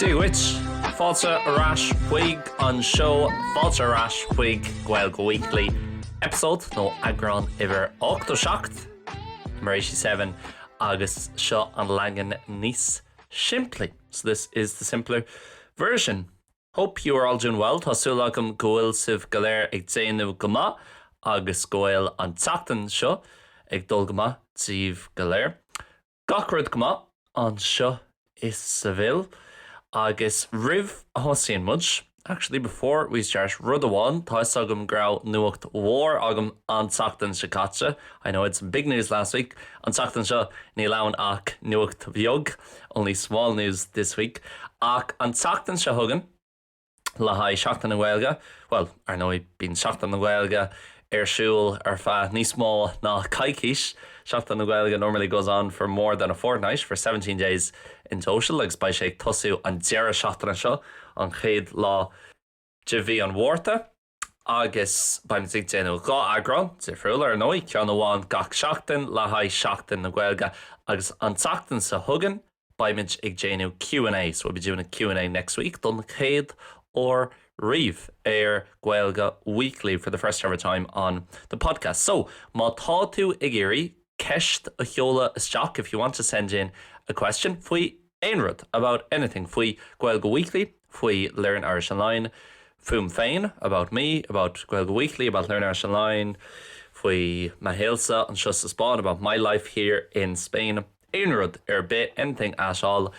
Dia dhuit! Fáilte ar ais chuig an seó Fáilte ar ais chuig Gaeilge Weekly, episode nó eagrán uimhir 87 mar a sé a 7 agus seo an leagan níos simplí. So this is the simpler version. Hope you are all doing well, tá súil agam go bhfuil sibh go léir ag déanamh go maith agus go bhfuil an tseachtain seo ag dul go maith díbh go léir. Gach rud go maith anseo i Sevilla agus roimh a thosaíonn muid, actually before we start, rud amháin, tá 'fhios agam go raibh nuacht mhór agam an tseachtain seo caite, I know I had some big news last week, an tseachtain seo níl ann ach nuacht bheag. only small news this week ach an tseachtain seo chugainn le haghaidh Seachtain na Gaeilge, bhuel, ar ndóigh, bíonn Seachtain na Gaeilge ar siúl ar feadh níos mó ná coicís, Seachtain na Gaeilge normally goes on for more than a fortnight, for seventeen days in total agus beidh sé ag tosú an deireadh seachtaine seo, an chéad lá. de mhí an Mhárta agus beimid ag déanamh dhá eagrán difriúla, ar ndóigh, ceann amháin gach seachtain le haghaidh Seachtain na Gaeilge agus an tseachtain seo chugainn beimid ag déanamh Q and A, so we'll be doing a Q and A next week, don chéad uair riamh ar Gaeilge Weekly, for the first ever time on the podcast. So, má tá tú ag iarraidh ceist a sheoladh isteach, if you want to send in a question, faoi. aon rud, about anything, faoi, Gaeilge Weekly, faoi, Learn Irish Online, fúm féin, about me, about, Gaeilge Weekly, about, Learn Irish Online, faoi, mo shaolsa, anseo sa Spáinn, about my life here in Spain, aon rud ar bith, anything at all,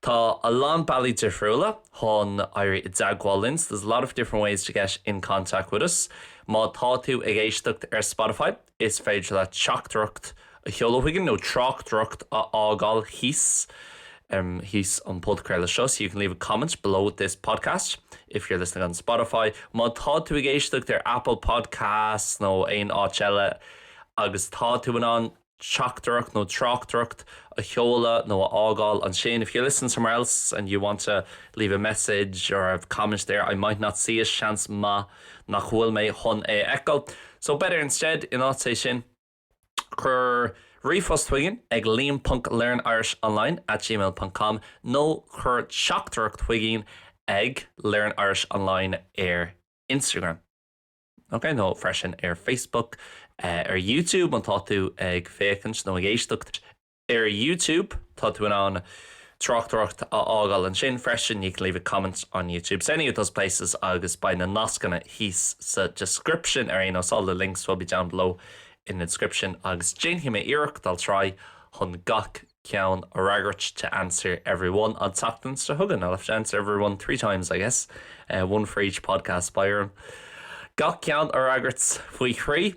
Tá a lán bealaí difriúla chun éirí i dteagmháil linn, There's a lot of different ways to get in contact with us, Má tá tú ag éisteacht ar Spotify, Is féidir leat teachtaireacht a sheoladh chugainn nó tráchtaireacht a fhágáil thíos, thíos an podchraoladh seo so you can leave a comment below this podcast if you're listening on Spotify Má tá tú ag éisteacht ar Apple Podcasts nó aon áit eile agus tá tú in ann teachtaireacht nó tráchtaireacht a sheoladh nó a fhágáil ansin If you're listening somewhere else and you want to leave a message or a comment there I might not see it Seans maith nach bhfuil mé chun é a fheiceáil so better instead in áit é sin, cuir ríomhphost chugainn ag liam ponc learnirishonline at gmail ponc com nó cuir teachtaireacht chugainn ag learnirishonline ar Instagram, OK, nó freisin ar Facebook, ar YouTube, má tá tú ag féachaint nó ag éisteacht. Ar YouTube, tá tú in ann tráchtaireacht a fhágáil ansin freisin, you can leave a comment on YouTube. Same with those places agus beidh na nascanna thíos sa description ar aon nós, all the links will be down below in the description agus déanfaidh mé iarracht, I'll try, chun gach ceann a fhreagairt, to answer every one, an tseachtain seo chugainn, I'll have to answer every one three times, I guess, one for each podcast, beidh orm gach ceann a fhreagairt faoi thrí.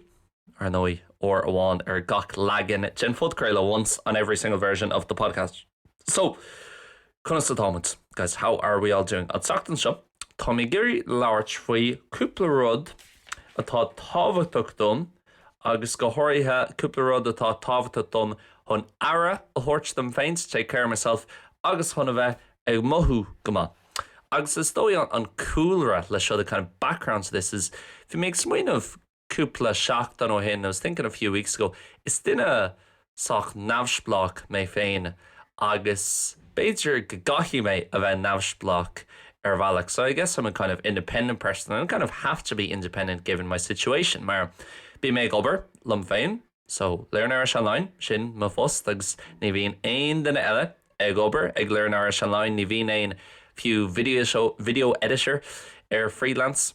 ar ndóigh, uair amháin ar gach leagan den phodchraoladh once on every single version of the podcast so Conas atáimid, guys? How are we all doing? An tseachtain seo, táim ag iarraidh labhairt faoi cúpla rud atá tábhachtach dom agus go háirithe cúpla rud atá tábhachtach dom chun aire a thabhairt dom féin to take care of myself agus chun a bheith ag mothú go maith. Agus is dócha an cúlra le seo the kind of background to this is bhí mé ag smaoineamh cúpla seachtain ó shin, I was thinking a few weeks ago, is duine sách neamhspleách mé féin agus b'fhéidir go gcaithfidh mé a bheith neamhspleách ar bhealach so I guess I'm a kind of independent person and I kind of have to be independent given my situation mar bím ag obair liom féin so Learn Irish Online, sin mo phost agus ní bhíonn aon duine eile ag obair ag Learn Irish Online, ní bhíonn aon fiú video editor ar freelance.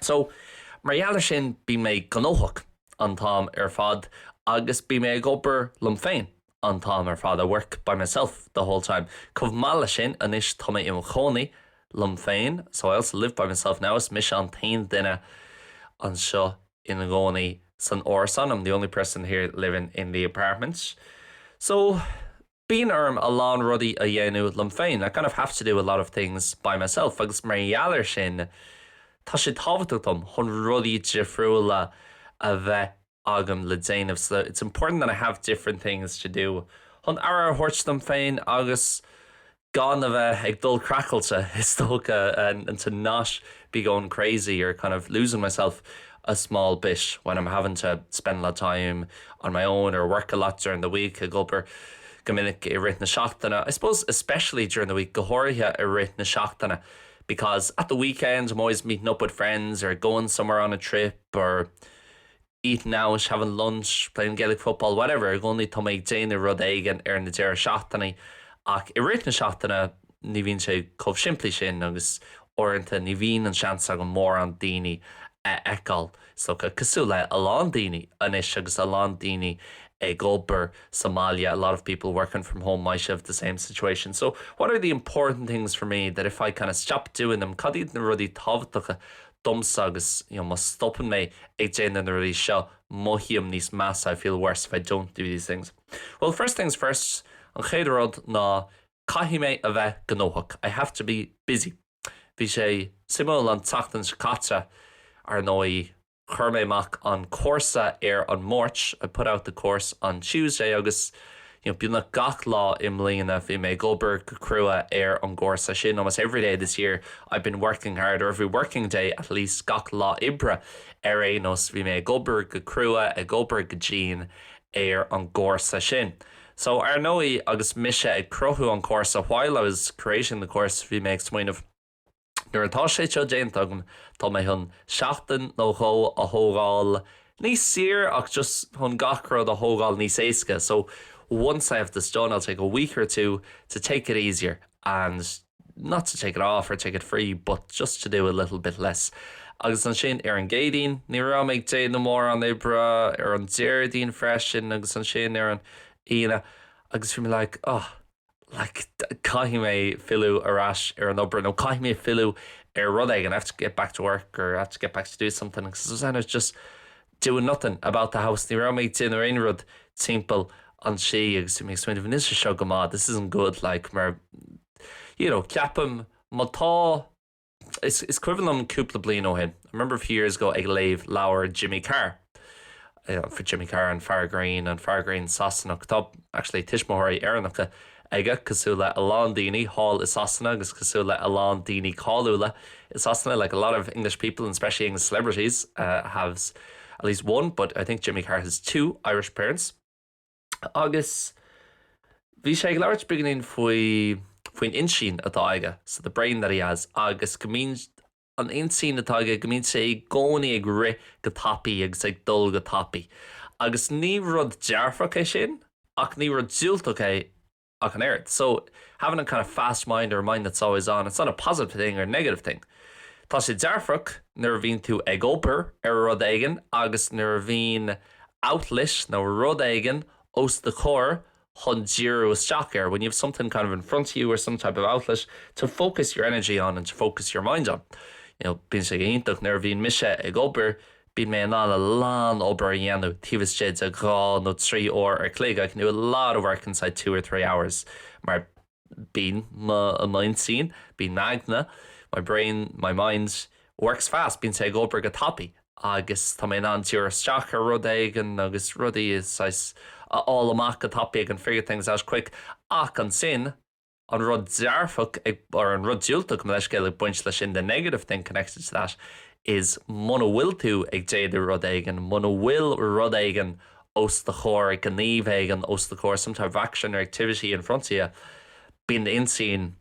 So, mar gheall ar sin, bím gnóthach an t-am ar fad agus bím ag obair liom féin an t-am ar fad, I work by myself the whole time. Chomh maith leis sin, anois tá mé i mo chónaí liom féin, so I also live by myself now. Is mise an t-aon duine anseo ina gcónaí san árasán, I'm the only person here living in the apartment. So. Bíonn orm a lán rudaí a dhéanamh liom féin, I kind of have to do a lot of things by myself, agus mar gheall ar sin, tá sé tábhachtach dom chun rudaí difriúla a bheith agam le déanamh, so it's important that I have different things to do, chun aire a thabhairt dom féin agus gan a bheith ag dul craiceáilte, is dócha, and to not. be going crazy or kind of losing myself a small bit when I'm having to spend a lot of time on my own or work a lot during the week ag obair go minic i rith na seachtaine I suppose especially during the week go háirithe i rith na seachtaine because at the weekend I'm always meeting up with friends or going somewhere on a trip or eat now, is having lunch, playing Gaelic football, whatever, i gcónaí tá mé ag déanamh rud éigin ar na deireadh seachtainí ach i rith na seachtaine ní bhíonn sé chomh simplí sin agus uaireanta ní bhíonn an seans agam mórán daoine a fheiceáil is dócha, cosúil le a lán daoine anois agus a lán daoine ag obair sa mbaile, a lot of people working from home might have the same situation. So, what are the important things for me that if I kind of stop doing them, cad iad na rudaí tábhachtacha domsa agus you know má stopann mé ag déanamh na rudaí seo mothaím níos measa I feel worse if I don't do these things. Bhuel first things first an chéad rud ná caithfidh mé a bheith gnóthach I have to be busy. Bhí sé suimiúil an tseachtain seo caite ar ndóigh chuir mé amach an cúrsa ar an Máirt I put out the course on Tuesday agus beagnach gach lá i mbliana bhí mé ag obair go crua ar an gcúrsa sin almost every day this year I've been working hard or every working day at least gach lá oibre ar aon nós bhí mé ag obair go crua ag obair go dian ar an gcúrsa sin so ar ndóigh agus mise ag cruthú an chúrsa while I was creating the course bhí mé ag smaoineamh Nuair atá sé seo déanta agam, tá mé chun seachtain nó dhó a thógáil níos saoire nó just chun gach rud a thógáil níos éasca so once I have this done, I'll take a week or two to take it easier and not to take it off or take it free but just to do a little bit less. Agus ansin ar an gCéadaoin, ní raibh mé ag déanamh mórán oibre, ar an Déardaoin freisin agus ansin ar an Aoine agus bhí mé like, oh, like caithfidh mé filleadh ar ais ar an obair nó caithfidh mé filleadh ar rud éigin I have to get back to work or I have to get back to do something 'cause I was just doing nothing about the house ní raibh mé ag déanamh aon rud timpeall an tí agus bhí mé ag smaoineamh níl sé seo go maith this isn't good like mar you know ceapaim má tá Is cuimhin liom cúpla bliain ó shin, I remember a few years ago, ag léamh leabhar Jimmy Carr, Jimmy Carr, an fear grinn, an fear grinn Sasanach. Tá actually tuismitheoirí Éireannacha aige, cosúil le a lán daoine thall i Sasana agus cosúil le a lán daoine cáiliúla i Sasana, like a lot of English people and especially English celebrities have at least one, but I think Jimmy Carr has two Irish parents. Agus bhí sé ag labhairt beagainín faoi, faoin intinn atá aige, so the brain that he has, agus go mbíonn, an intinn atá aige, go mbíonn sé i gcónaí ag rith go tapaidh agus ag dul go tapaidh. Agus ní rud dearfach é sin ach ní rud diúltach é ach an oiread. So, having a kind of fast mind or a mind that's always on, it's not a positive thing or a negative thing. Tá sé dearfach nuair a bhíonn tú ag obair ar rud éigin agus nuair a bhíonn outlet nó rud éigin os do chomhair chun díriú isteach air, when you have something kind of in front of you or some type of outlet to focus your energy on and to focus your mind on. You know, bíonn sé go hiontach nuair a bhíonn mise ag obair, Bíonn mé in ann a lán obair a dhéanamh taobh istigh de dhá nó trí uair ar chloig, I can do a lot of work inside two or three hours, mar bíonn m'intinn, bíonn m'aigne, my brain, my mind, works fast, bíonn sé ag obair go tapaidh agus tá mé in ann díriú isteach ar rud éigin agus rudaí, saghas, a fháil amach go tapaidh, I can figure things out quick, ach ansin, an rud dearfach, or an rud diúltach, mo leithscéal, ag baint leis sin, the negative thing connected to that is muna bhfuil tú ag déanamh rud éigin, muna bhfuil rud éigin os do chomhair, gníomh éigin os do chomhair, some type of action or activity in front of you, bíonn d'intinn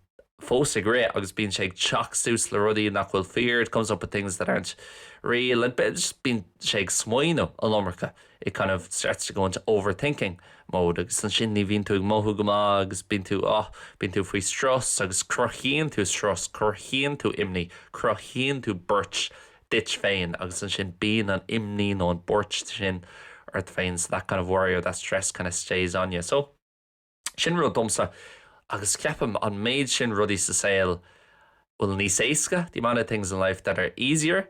fós ag rith agus bíonn sé ag teacht suas le rudaí nach bhfuil fíor, it comes up with things that aren't real, bíonn sé ag smaoineamh an iomarca. it kind of starts to go into overthinking mode agus ansin ní bhíonn tú ag mothú go maith agus bíonn tú ah bíonn tú faoi strus agus cruthaíonn tú strus cruthaíonn tú imní cruthaíonn tú buairt duit féin agus ansin bíonn an imní nó an buairt sin ort féin so that kind of worry or that stress kind of stays on you so sin rud domsa agus ceapaim an méid sin rudaí sa saol bhfuil níos éasca the amount of things in life that are easier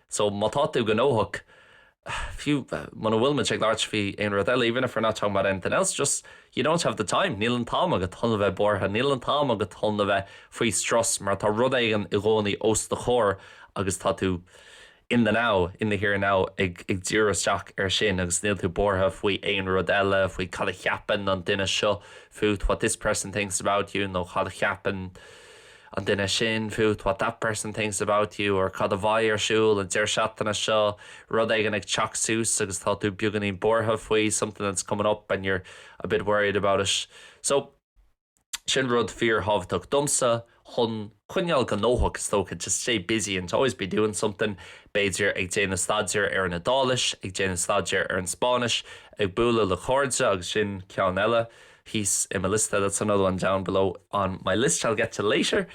So, má tá tú gnóthach, fiú muna bhfuil muid ag labhairt faoi aon rud eile, even if we're not talking about anything else, just you don't have the time, níl an t-am agat chun a bheith buartha, níl an t-am agat chun a bheith faoi strus mar tá rud éigin i gcónaí os do chomhair agus tá tú in the now, in the here and now ag díriú isteach air sin agus níl tú buartha faoi aon rud eile, faoi cad a cheapann an duine seo fút, what this person thinks about you nó cad a cheapann. an duine sin fút, what that person thinks about you, or cad a bheidh ar siúl an deireadh seachtaine seo, rud éigin ag teacht suas agus tá tú beagáinín buartha faoi, something that's coming up and you're a bit worried about it. So, sin rud fíorthábhachtach domsa chun coinneáil go gnóthach, is dócha, to stay busy and to always be doing something, b'fhéidir ag déanamh staidéir ar an Iodáilis, ag déanamh staidéir ar an Spáinnis, ag bualadh le cairde agus sin ceann eile. thíos i mo liosta, that's another one down below on my list I'll get to later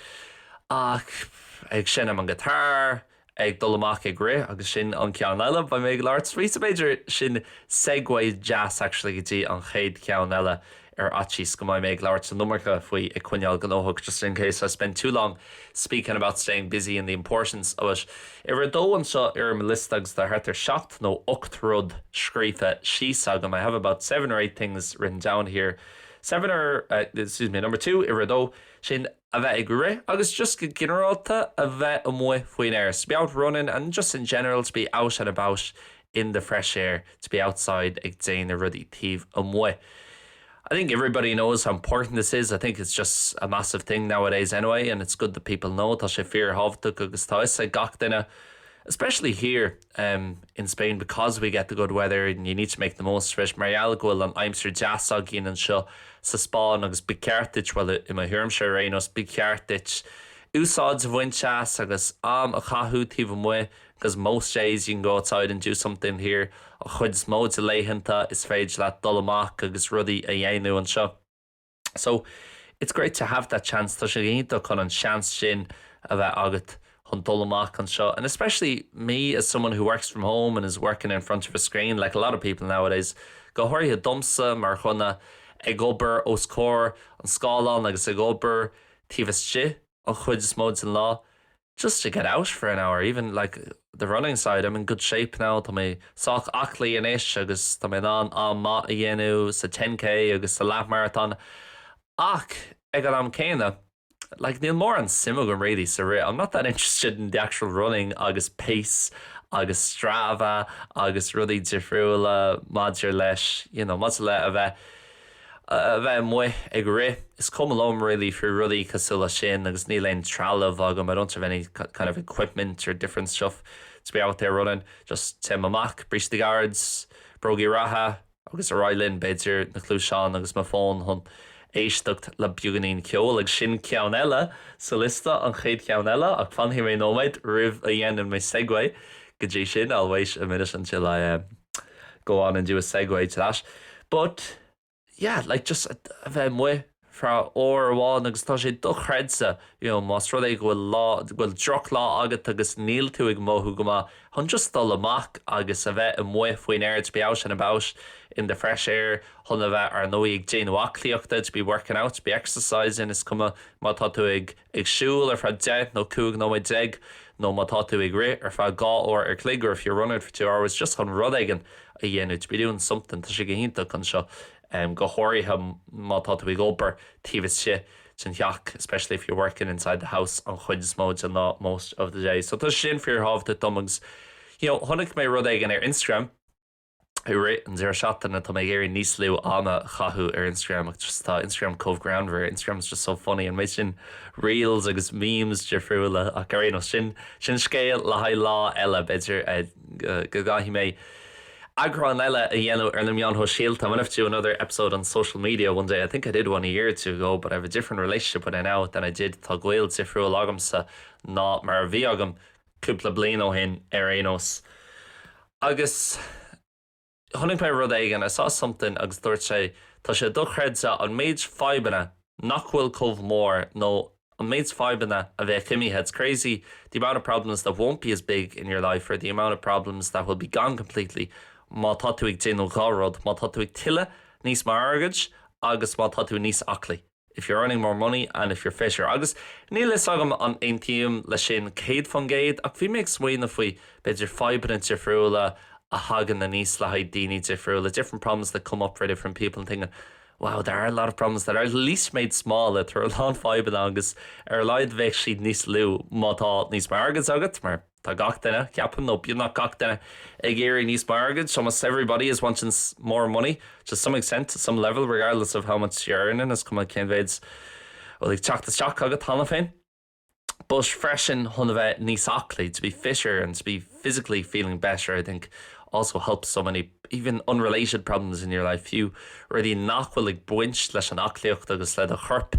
ach ag seinm an guitar, ag dul amach ag rith agus sin an ceann eile, beidh mé ag labhairt faoi so b'fhéidir sin segue deas actually go dtí an chéad cheann eile ar fhaitíos go mbeidh mé ag labhairt san iomarca faoi ag coinneáil gnóthach just in case I spend too long speaking about staying busy and the importance of it'. Uimhir a dó anseo ar mo liosta agus tá thart ar seacht nó ocht rud scríofa síos agam, 'I have about seven or eight things written down here'. Seven or, excuse me, number two, uimhir a dó, sin a bheith ag rith agus just go ginearálta a bheith amuigh faoin aer, to be out running and just in general to be out and about in the fresh air, to be outside ag déanamh rudaí taobh amuigh. I think everybody knows how important this is, I think it's just a massive thing nowadays anyway and it's good that people know, tá sé fíorthábhachtach agus tá 'fhios ag gach duine especially here in Spain because we get the good weather and you need to make the most of it mar gheall go bhfuil an aimsir deas againn anseo sa Spáinn agus ba cheart duit, bhuel i mo thuairimse ar aon nós, ba cheart duit úsáid a bhaint as agus am a chaitheamh taobh amuigh. 'Cause most days you can go outside and do something here, An chuid is mó de laethanta is féidir leat dul amach agus rudaí a dhéanamh anseo. So, it's great to have that chance, tá sé iontach chun an seans sin a bheith agat chun dul amach anseo. And especially me, as someone who works from home and is working in front of a screen, like a lot of people nowadays, go háirithe domsa mar dhuine ag obair os comhair an scáileáin agus ag obair taobh istigh an chuid is mó den lá, just to get out for an hour, even, like, the running side, I'm in good shape now, tá mé sách aclaí anois agus tá mé in ann am maith a dhéanamh sa ten K agus sa leathmharatón ach ag an am céanna, like, níl mórán suim agam really sa rith, I'm not that interested in the actual running agus pace agus Strava agus rudaí difriúla maidir leis, you know, maidir le a bheith. a bheith amuigh ag rith, is cuma liom really faoi rudaí cosúil leis sin agus níl aon trealamh agam, I don't have any kind of equipment or different stuff to be out there running, just téim amach, bríste gairid, bróga reatha agus ar aghaidh linn, b'fhéidir na cluaisáin agus mo fón chun éisteacht le beagáinín ceoil agus sin ceann eile sa liosta, an chéad cheann eile ach fanfaidh mé nóiméad roimh a dhéanann mé segue go dtí sin, I'll wait a minute until I go on and do a segue to that. But, yeah, like, just a bheith amuigh faoi uair amháin agus tá sé dochreidte, you know, más rud é go bhfuil lá, go bhfuil drochlá agat agus níl tú ag mothú go maith, chun just dul amach agus a bheith amuigh faoin aer, to be out and about in the fresh air, chun a bheith, ar ndóigh, ag déanamh aclaíochta, to be working out, to be exercising, is cuma má tá tú ag. ag siúl ar feadh deich nó cúig nóiméad déag nó má tá tú ag rith ar feadh dhá uair an chloig or if you're running for two hours just chun rud éigin a dhéanamh to be doing something tá sé go hiontach ansin go háirithe má tá tú ag obair taobh istigh den theach especially if you're working inside the house an chuid is mó den lá most of the day so tá sé sin fíorthábhachtach dom agus you know chonaic mé rud éigin ar Instagram I rith an deireadh seachtaine, tá mé ag iarraidh níos lú ama a chaitheamh ar Instagram ach just tá Instagram chomh greannmhar, Instagram is just so funny and muid in reels agus memes difriúla ach ar aon nós, sin sin scéal le haghaidh lá eile, b'fhéidir go gcaithfidh mé eagrán eile a dhéanamh ar na meáin shóisialta, I might have to do another episode on social media one day, I think I did one a year or two ago but I have a different relationship with it now than I did, tá gaol difriúil agamsa ná mar a bhí agam cúpla bliain ó shin ar aon nós agus chonaic mé rud éigin, I saw something agus dúirt sé tá sé dochreidte an méid fadhbanna nach bhfuil chomh mór nó an méid fadhbanna a bheadh imithe, it's crazy the amount of problems that won't be as big in your life or the amount of problems that will be gone completely má tá tú ag déanamh dhá rud, má tá tú ag tuilleadh níos mó airgid agus má tá tú níos aclaí. if you're earning more money and if you're fitter. Agus níl fhios agam an aontaím le sin céad faoin gcéad ach bhí mé ag smaoineamh faoi b'fhéidir fadhbanna difriúla a thagann aníos le haghaidh daoine difriúla, different problems that come up for different people and thinking wow there are a lot of problems that are at least made smaller, tá a lán fadhbanna agus ar a laghad bheadh siad níos lú má tá níos mó airgid agat mar. Tá gach duine, ceapaim, nó beagnach gach duine, ag iarraidh níos mó airgid, so most everybody is wanting more money, to some extent, to some level, regardless of how much you're earning, is cuma cén mhéid a bhfuil ag teacht isteach agat cheana féin. But freisin, chun a bheith níos aclaí, to be fitter and to be physically feeling better, I think, also helps so many, even unrelated, problems in your life, fiú rudaí nach bhfuil ag baint leis an aclaíocht agus le do chorp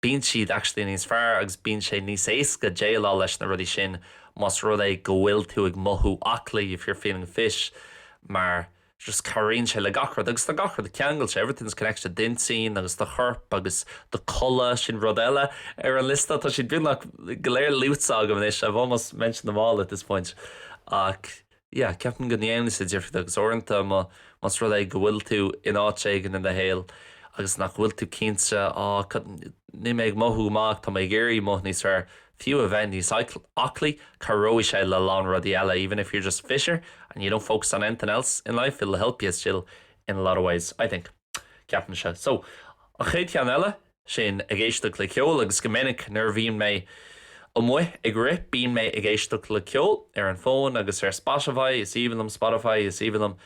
Bíonn siad actually níos fearr agus bíonn sé níos éasca déileáil leis na rudaí sin más rud é go bhfuil tú ag mothú aclaí, if you're feeling fit, mar just cabhraíonn sé le gach rud agus tá gach rud ceangailte, everything's connected, d'intinn agus do chorp agus do codladh, sin rud eile ar an liosta, tá siad beagnach go léir luaite agam anois, I've almost mentioned them all at this point, ach. yeah ceapaim go ndéanann sé difríocht agus uaireanta más rud é go bhfuil tú in áit éigin i do shaol agus nach bhfuil tú cinnte ah cad, níl mé ag mothú go maith ach tá mé ag iarraidh mothú níos fearr, fiú a bheith níos aclaí, cabhróidh sé le a lán rudaí eile even if you're just fitter and you don't focus on anything else in life, it'll help you still in a lot of ways, I think. ceapaimse. So, an chéad cheann eile, sin ag éisteacht le ceol agus go minic nuair a bhíonn mé amuigh ag rith bíonn mé ag éisteacht le ceol ar an fón agus ar Spotify, is aoibhinn liom Spotify, is aoibhinn liom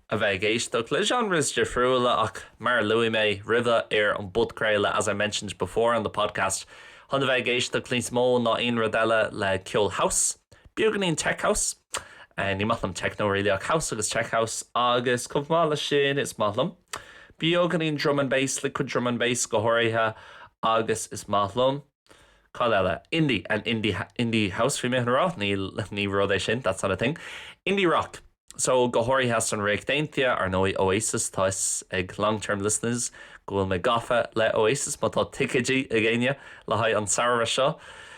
a bheith ag éisteacht le genres difriúla ach mar a luaigh mé roimhe ar an bpodchraoladh, as I mentioned before on the podcast, tosaím a bheith ag éisteacht níos mó ná aon rud eile le ceol house, beagáinín tech house. Ní maith liom techno really ach house agus tech house agus chomh maith leis sin is maith liom beagáinín drum and bass, liquid drum and bass go háirithe agus is maith liom. cad eile? indie and indie, indie house bhí mé chun a rá, níl, ní rud é sin, that's not a thing. Indie rock, so go háirithe as an Ríocht Aontaithe, ar ndóigh Oasis, tá 'fhios ag long term listeners go bhfuil mé gafa le Oasis má tá ticeidí ag éinne le haghaidh an samhradh seo,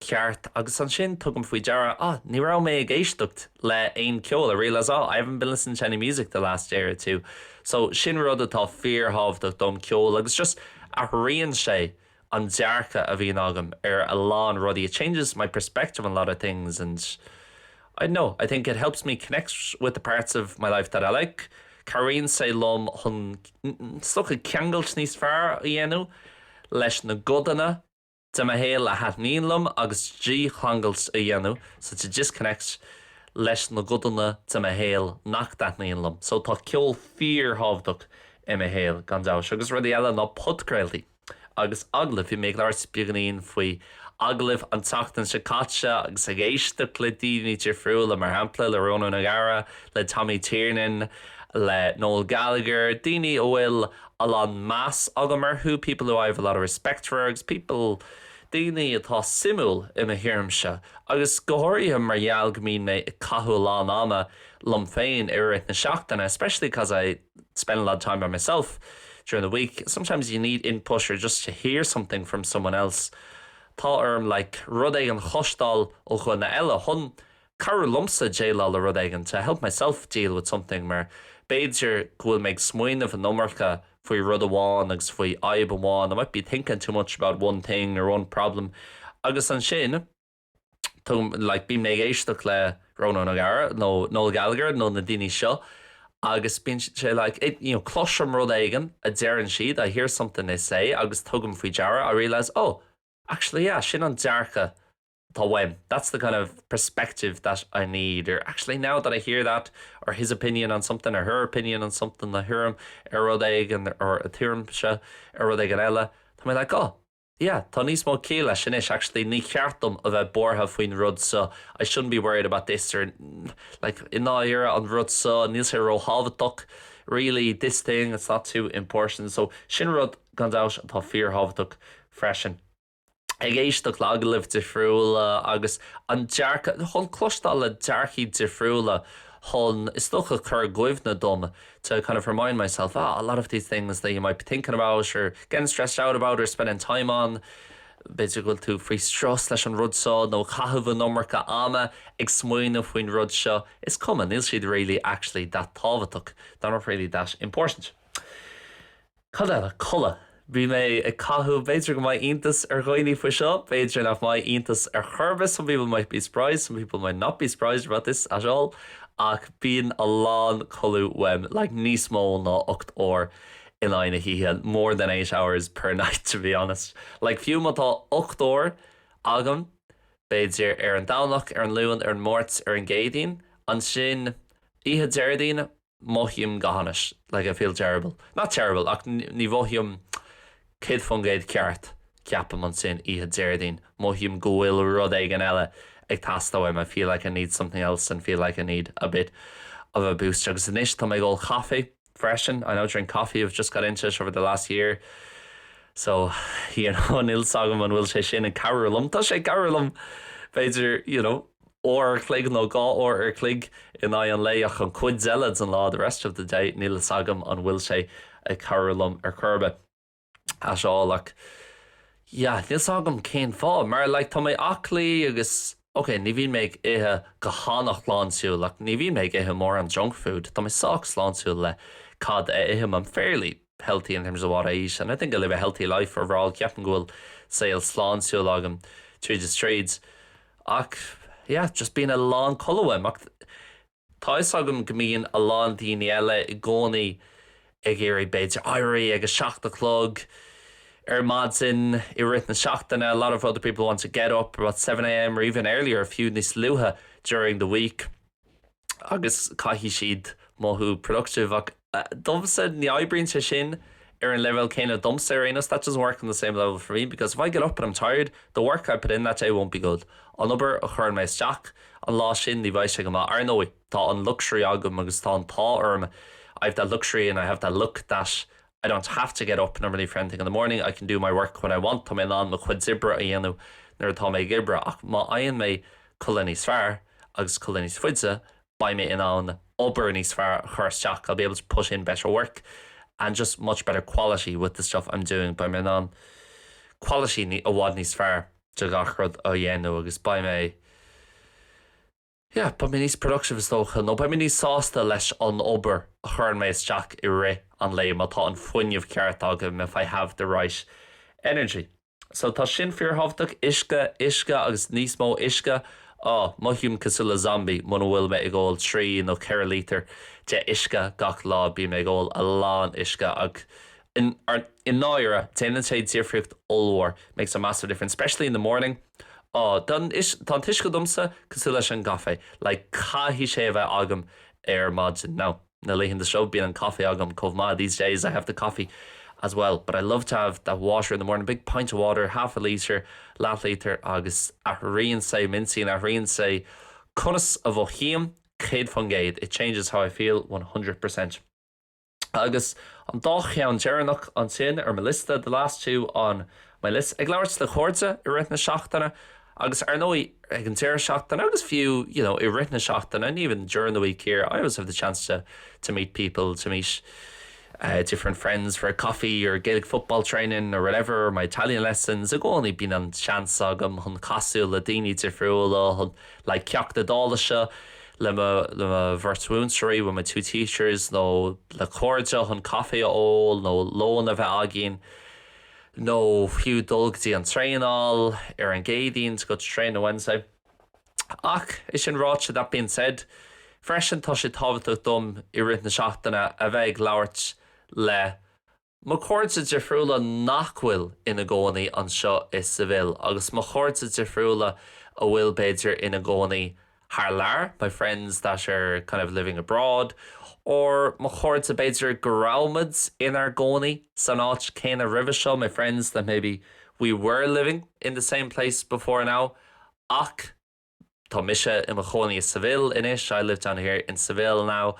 ceart agus ansin tugaim faoi deara, ah, ní raibh mé ag éisteacht le aon ceol, I realise, oh, I haven't been listening to any music the last day or two. So sin rud atá fíorthábhachtach dom, ceol agus just athraíonn sé an dearcadh a bhíonn agam ar a lán rudaí, it changes my perspective on a lot of things and I dunno, I think it helps me connect with the parts of my life that I like, cabhraíonn sé liom chun saghas ceangailt níos fearr a dhéanamh leis na gcodanna. de mo shaol a thaitníonn liom agus dícheangailt a dhéanamh so to disconnect leis na gcodanna de mo shaol nach dtaitníonn liom so tá ceol fíorthábhachtach i mo shaol gan dabht agus rudaí eile ná podchraoltaí agus agallaimh. Bhí mé ag labhairt beagáinín faoi agallaimh an tseachtain seo caite agus ag éisteacht le daoine difriúla, mar shampla le Rónán Ó Gadhra, le Tommy Tiernan, le Noel Gallagher, daoine a bhfuil a lán meas agam orthu people who I have a lot of respect for agus people daoine atá suimiúil i mo thuairimse agus go háirithe mar gheall go mbíonn mé ag caitheamh a lán ama liom féin i rith na seachtaine especially cause I spend a lot of time by myself during the week. Sometimes you need input or just to hear something from someone else. Tá orm like rud éigin a chloisteáil ó dhuine eile chun cabhrú liomsa déileáil le rud éigin, to help myself deal with something, mar b'fhéidir go bhfuil mé ag smaoineamh an iomarca faoi rud amháin agus faoi fhadhb amháin, I might be thinking too much about one thing or one problem, agus ansin tugaim, like, bíonn mé ag éisteacht le Ronan O'Gara nó Noel Gallagher nó na daoine seo agus bíonn sé, like, it, you know, cloisim rud éigin a deireann siad, I hear something they say agus tugaim faoi deara, I realise, oh, actually, yeah, sin an dearcadh. atá uaim. That's the kind of perspective that I need, or actually now that I hear that, or his opinion on something, or her opinion on something, a thuairim ar rud éigin, or a thuairimse ar rud éigin eile, tá mé like, oh, yeah, tá níos mó ciall leis anois, actually ní ceart dom a bheith buartha faoin rud seo, I shouldn't be worried about this, or like i ndáiríre, an rud seo, níl sé róthábhachtach, really, this thing, it's not too important. So sin rud, gan dabht, atá fíorthábhachtach freisin. ag éisteacht le agallaimh difriúla agus an dearcadh, chun cloisteáil le dearcthaí difriúla chun, is dócha, cur i gcuimhne dom, to kind of remind myself, ah, a lot of these things that you might be thinking about or getting stressed out about or spending time on, b'fhéidir go bhfuil tú faoi strus leis an rud seo nó caitheamh an iomarca ama ag smaoineamh faoin rud seo, is cuma, níl siad really actually that tábhachtach, they're not really that important. Cad eile codladh? Bhí mé ag caitheamh, b'fhéidir go mbeidh iontas ar dhaoine faoi seo, b'fhéidir nach mbeidh iontas ar chor ar bith, some people might be surprised, some people might not be surprised about this at all, ach bíonn a lán codladh uaim, like níos mó ná ocht uair in aghaidh na hoíche, more than eight hours per night to be honest. Like fiú má tá ocht uair agam, b'fhéidir ar an Domhnach, ar an Luan, ar an Máirt, ar an gCéadaoin, ansin oíche Déardaoin, mothaím go hainnis, like I feel terrible. Not terrible, ach ní mhothaím céad faoin gcéad ceart, so bím, ansin, oíche Déardaoin, mothaím go bhfuil rud éigin eile ag teastáil uaim, I feel like I need something else and feel like I need a bit of a boost. Agus anois, tá mé ag ól caife, freisin, I now drink coffee, I've just got into it over the last year. So, you know, níl 's agam an bhfuil sé sin ag cabhrú liom. Tá sé ag cabhrú liom, b'fhéidir, you know. uair an chloig nó dhá uair an chloig in aghaidh an lae ach an chuid eile den lá the rest of the day níl fhios agam an bhfuil sé ag cabhrú liom ar chor ar bith. at all ach yeah níl fhios agam cén fáth mar like tá mé aclaí agus ok ní bhíonn mé ag ithe go han-shláintiúil ach ní bhíonn mé ag ithe mórán junk food tá mé sách sláintiúil le cad a ithim I'm fairly healthy in terms of what I eat and I think I live a healthy life overall ceapaim go bhfuil saol sláintiúil agam tríd is tríd ach yeah just bíonn a lán codladh uaim ach tá 'fhios agam go mbíonn a lán daoine eile i gcónaí ag iarraidh b'fhéidir éirí ag a seacht a chlog ar maidin i rith na seachtaine a lot of other people want to get up about 7am or even earlier fiú níos luaithe during the week. agus caithfidh siad mothú productive ach domsa ní oibríonn sé sin ar an leibhéal céanna domsa ar aon nós that doesn't work on the same level for me because if I get up and I'm tired the work I put in that day won't be good an obair a chuireann mé isteach an lá sin ní bheidh sé go maith. Ar ndóigh tá an luxury agam agus tá an t-ádh orm I've that luxury and I have that luck that I don't have to get up normally for anything in the morning, I can do my work when I want, tá mé in ann mo chuid oibre a dhéanamh nuair atá mé ag iarraidh ach má fhaigheann mé codladh níos fearr agus codladh níos faide, beidh mé in ann obair níos fearr a chur isteach, I'll be able to put in better work and just much better quality with the stuff I'm doing, beidh mé in ann quality i bhfad níos fearr de gach rud a dhéanamh agus beidh mé. yeah beidh mé níos productive is dócha nó beidh mé níos sásta leis an obair a chuireann mé isteach i rith an lae má tá an fuinneamh ceart agam if I have the right energy so tá sin fíorthábhachtach uisce, uisce agus níos mó uisce oh mothaím cosúil le zombie muna bhfuil mé ag ól trí nó ceithre lítear de uisce gach lá bíonn mé ag ól a lán uisce agus. I ndáirire, déanann sé difríocht ollmhór, makes a massive difference, especially in the morning. Ó, tá an t-uisce domsa cosúil leis an gcaife, like caithfidh sé a bheith agam ar maidin, now. Na laethanta seo, bíonn an caife agam chomh maith, these days I have the coffee as well. But I love to have that water in the morning, big pint of water, half a litre, leathlítear, agus athraíonn sé m'intinn, athraíonn sé conas a mhothaím, céad faoin gcéad, it changes how I feel, one hundred percent. agus an dá cheann deireanach ansin ar mo liosta, the last two on my list. Ag labhairt le cairde i rith na seachtaine agus, ar ndóigh, ag an deireadh seachtaine agus fiú, you know, i rith na seachtaine, and even during the week here, I always have the chance to to meet people, to meet eh different friends for a coffee or Gaelic football training or whatever, or my Italian lessons, i gcónaí bíonn an seans agam chun casadh le daoine difriúla, chun like ceacht Iodáilise le mo le mo bheirt mhúinteoirí with my two teachers nó le cairde chun caife a ól nó lón a bheith againn nó fiú dul go dtí an traenáil ar an gCéadaoin to go to training on Wednesday ach é sin ráite that being said freisin tá sé tábhachtach dom i rith na seachtaine a bheith ag labhairt le Mo chairde difriúla nach bhfuil ina gcónaí anseo i Seville agus mo chairde difriúla a bhfuil, b'fhéidir, ina gcónaí thar lear, my friends that are kind of living abroad or mo chairde, b'fhéidir, go rabhaimid inár gcónaí san áit chéanna roimhe seo, my friends that maybe we were living in the same place before now ach. Tá mise i mo chónaí i Seville anois, I live down here in Seville now,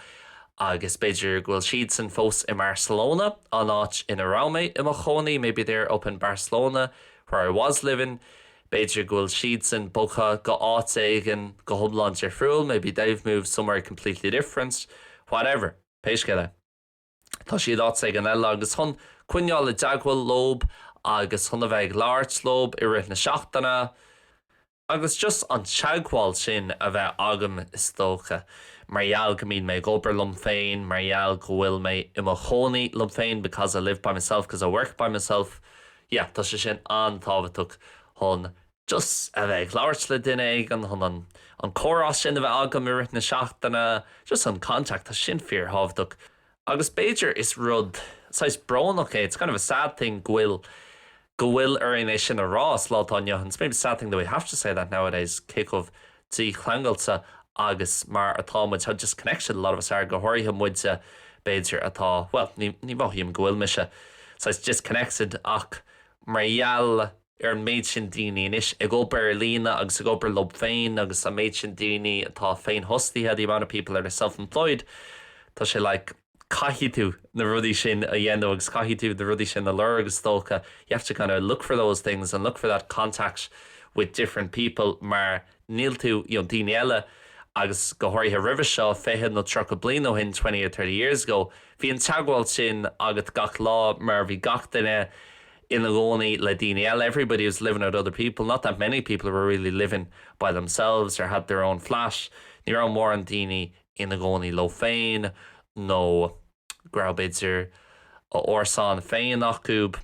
agus b'fhéidir go bhfuil siadsan fós i mBarcelona, an áit ina raibh mé i mo chónaí, maybe they're up in Barcelona, where I was living. B'fhéidir go bhfuil siadsan bogtha go áit éigin go hiomlán difriúil, maybe they've moved somewhere completely different. Whatever. Pé scéal é. Tá siad áit éigin eile agus chun coinneáil i dteagmhail leob agus chun a bheith ag labhairt leob i rith na seachtaine agus just an teagmháil sin a bheith agam is dócha mar gheall go mbíonn mé ag obair liom féin, mar gheall go bhfuil mé i mo chónaí liom féin because I live by myself because I work by myself, yeah tá sé sin an-tábhachtach chun just a bheith ag labhairt le duine éigin, chun an, an comhrá sin a bheith agam i rith na seachtaine, just an contact, tá sin fíorthábhachtach. Agus b'fhéidir is rud saghas brónach é, it's kind of a sad thing go bhfuil, go bhfuil orainn é sin a rá sa lá atá inniu, it's maybe a sad thing that we have to say that nowadays, cé chomh dícheangailte agus mar atá muid, how disconnected a lot of us are, go háirithe muide b'fhéidir atá, bhuel, ní, ní mhothaím go bhfuil mise saghas disconnected ach mar gheall. ar an méid sin daoine anois ag obair ar líne agus ag obair leob féin agus an méid sin daoine atá féinfhostaithe the amount of people that are self-employed tá sé like caithfidh tú na rudaí sin a dhéanamh agus caithfidh tú na rudaí sin a lorg is dócha you have to kind of look for those things and look for that contact with different people mar níl tú you know daoine eile agus go háirithe roimhe seo 20 nó 30 bliain ó shin 20 or 30 years ago bhí an teagmháil sin agat gach lá mar bhí gach duine ina gcónaí le daoine eile, 'everybody was living with other people, not that many people were really living by themselves or had their own flat', ní raibh mórán daoine ina gcónaí leo féin nó go raibh, b'fhéidir, a n-árasán féin acu.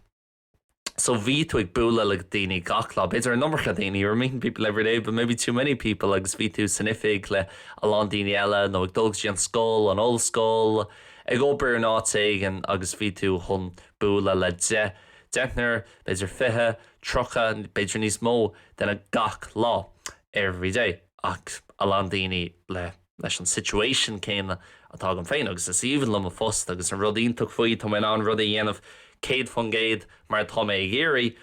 So bhí tú ag bualadh le daoine gach lá, b'fhéidir an iomarca daoine, 'you were meeting people every day, but maybe too many people', agus bhí tú san oifig le a lán daoine eile nó ag dul go dtí an scoil, an ollscoil, ag obair in áit éigin agus bhí tú chun bualadh le deich deichniúr, b'fhéidir fiche, tríocha, b'fhéidir níos mó, duine gach lá, every day, ach a lán daoine le, leis an situation céanna atá agam féin agus is aoibhinn liom an post agus an rud iontach faoi, tá mé in ann rudaí a dhéanamh céad faoin gcéad mar atá mé ag iarraidh.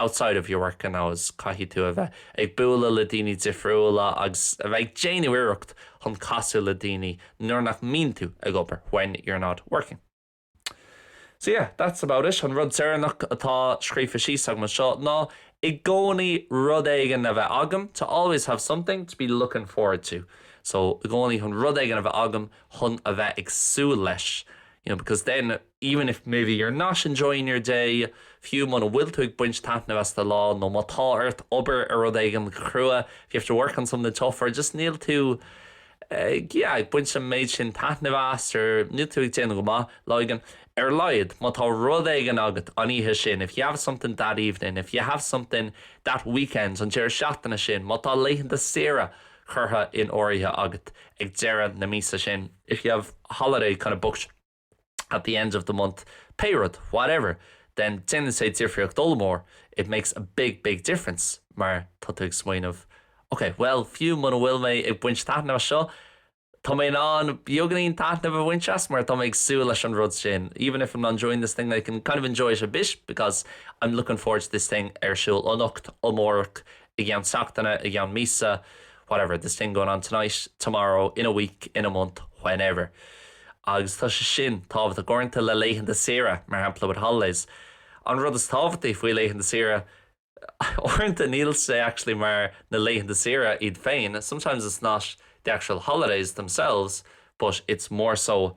outside of your working hours caithfidh tú a bheith ag bualadh le daoine difriúla agus a bheith ag déanamh iarracht chun casadh le daoine nuair nach mbíonn tú ag obair when you're not working. So yeah, that's about it. An rud deireanach atá scríofa síos agam anseo ná i gcónaí rud éigin a bheith agam to always have something to be looking forward to. So i gcónaí chun rud éigin a bheith agam chun a bheith ag súil leis you know because then even if maybe you're not enjoying your day fiú muna bhfuil tú ag baint taitnimh as do lá nó má tá ort obair ar rud éigin go crua if you have to work on something tough or just níl tú ag, yeah, ag baint an méid sin taitnimh as nó níl tú ag déanamh go maith lá éigin ar a laghad má tá rud éigin agat an oíche sin if you have something that evening, if you have something that weekend an deireadh seachtaine sin, má tá laethanta saoire curtha in áirithe agat ag deireadh na míosa sin. if you have holiday kind of booked. at the end of the month pé rud whatever then déanann sé difríocht ollmhór it makes a big, big difference mar tá tú ag smaoineamh ok, bhuel, fiú muna bhfuil mé ag baint taitneamh as seo, tá mé in ann beagainín taitnimh a bhaint as mar tá mé ag súil leis an rud sin even if I'm not enjoying this thing I can kind of enjoy it a bit because I'm looking forward to this thing ar siúl anocht, amárach i gceann seachtaine, i gceann míosa, whatever, this thing going on tonight, tomorrow, in a week, in a month, whenever. Agus tá sé sin tábhachtach uaireanta le laethanta saoire, mar shampla with holidays. An rud is tábhachtaí faoi laethanta saoire, uaireanta níl sé actually mar na laethanta saoire iad féin, sometimes it's not the actual holidays themselves but it's more so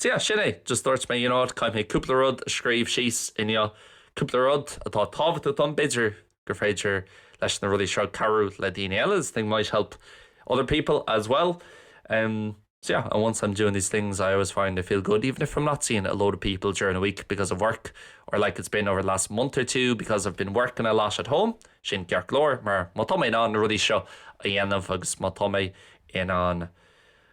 So yeah, sin é, just dúirt mé, you know what, caithfidh mé cúpla rud a scríobh síos inniu, cúpla rud atá tábhachtach dom, b'fhéidir gur féidir leis na rudaí seo cabhrú le daoine eile, this thing might help other people as well. Um, so yeah, and once I'm doing these things, I always find I feel good, even if I'm not seeing a load of people during a week because of work, or like it's been over the last month or two because I've been working a lot at home, sin ceart go leor, mar má tá mé in ann na rudaí seo a dhéanamh agus má tá mé in ann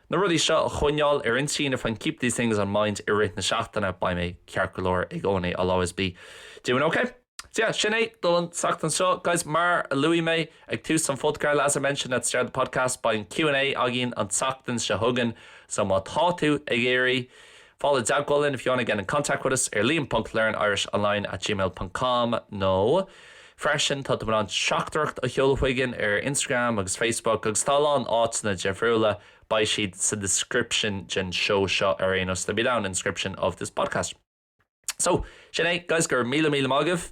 na rudaí seo a choinneáil ar intinn if I can keep these things on mind i rith na seachtaine beidh mé ceart go leor i gcónaí I'll always be doing ok. So yeah, sin é do an tseachtain seo, guys. Mar a luaigh mé ag tús an phodchraolta, as I mentioned at the start of the podcast, beidh an Q and A againn an tseachtain seo chugainn, so má tá tú ag iarraidh fáil i dteagmháil linn if you wanna get in contact with us ar liam ponc learnirishonline at gmail dot com nó freisin tá tú in ann teachtaireacht a sheoladh chugainn ar Instagram agus Facebook agus tá a lán áiteanna difriúla, beidh siad sa description den seó seo ar aon nós they'll be down in the description of this podcast. So, sin é, guys, go raibh míle míle maith agaibh!